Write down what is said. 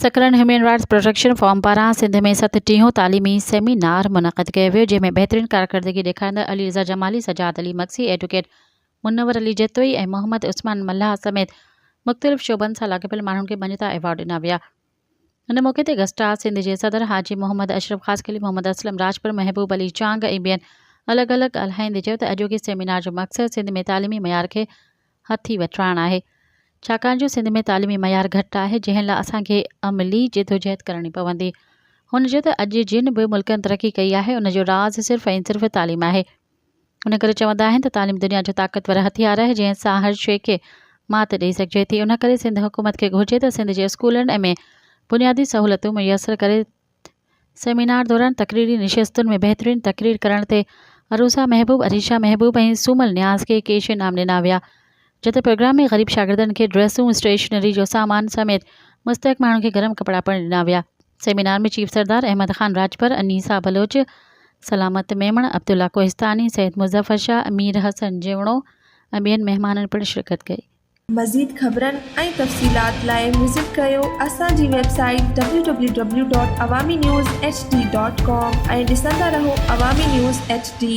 سکرن human rights protection forum پاران سنڌ ۾ ست ٽيهون تعليمي سيمينار منعقد ڪيو ويو جنهن ۾ بهترين ڪارڪردگي ڏيکاريندڙ علي رضا جمالي سجاد علي مگسي ايڊوڪيٽ منور علي جتوئي ۽ محمد عثمان ملاح سميت مختلف شعبن سان لاڳاپيل ماڻهن کي مڃتا ايوارڊ ڏنا ويا ان موقعي تي گسٽاز سنڌ جي صدر حاجي محمد اشرف خاصخيلي، محمد اسلم راڄپر، محبوب علي چانگ ۽ ٻين الڳ الڳ ڳالهائيندي چيو ته اڄوڪي سيمينار جو مقصد سنڌ ۾ تعليمي معيار کي هٿي وٺرائڻ آهي ڇاڪاڻ جو سنڌ ۾ تعليمي معيار گهٽ آهي جنهن لاء اسان کي عملي جدوجهد ڪرڻي پوندي هن چيو ته اڄ جن به ملڪن ترقي ڪئي آهي ان جو راز صرف ۽ صرف تعليم آهي. ان ڪري چوندا آهن ته تعليم دنيا جو طاقتور هٿيار آهي جنهن سان هر شيء کي مات ڏئي سگهجي ٿي ان ڪري سنڌ حڪومت کي گهرجي ته سنڌ جي اسڪولن ۾ بنيادي سهولتون ميسر ڪري سيمينار دوران تقريري نشستن ۾ بهترين تقرير ڪرڻ تي عروسا محبوب عريشا محبوب ۽ سومل نياز کي ڪيش انعام ڏنا ويا جتي پروگرام ۾ غريب شاگردن کي ڊريسون، اسٽيشنري جو سامان سميت مستحق ماڻهن کي گرم ڪپڙا پڻ ڏنا ويا. سيمينار ۾ چيف سردار احمد خان راڄپر، انيسا بلوچ، سلامت ميمڻ، عبدالله ڪوهستاني، سيد مظفر شاهه، امير حسن جيوڻو ۽ ٻين مهمانن پڻ شرڪت ڪئي. مزيد خبرن ۽ تفصيلات لاء وزٽ ڪريو اسان جي website W W W dot Awami news H D dot com ۽ ڏسندا رهو عوامي نيوز ايڇ ڊي.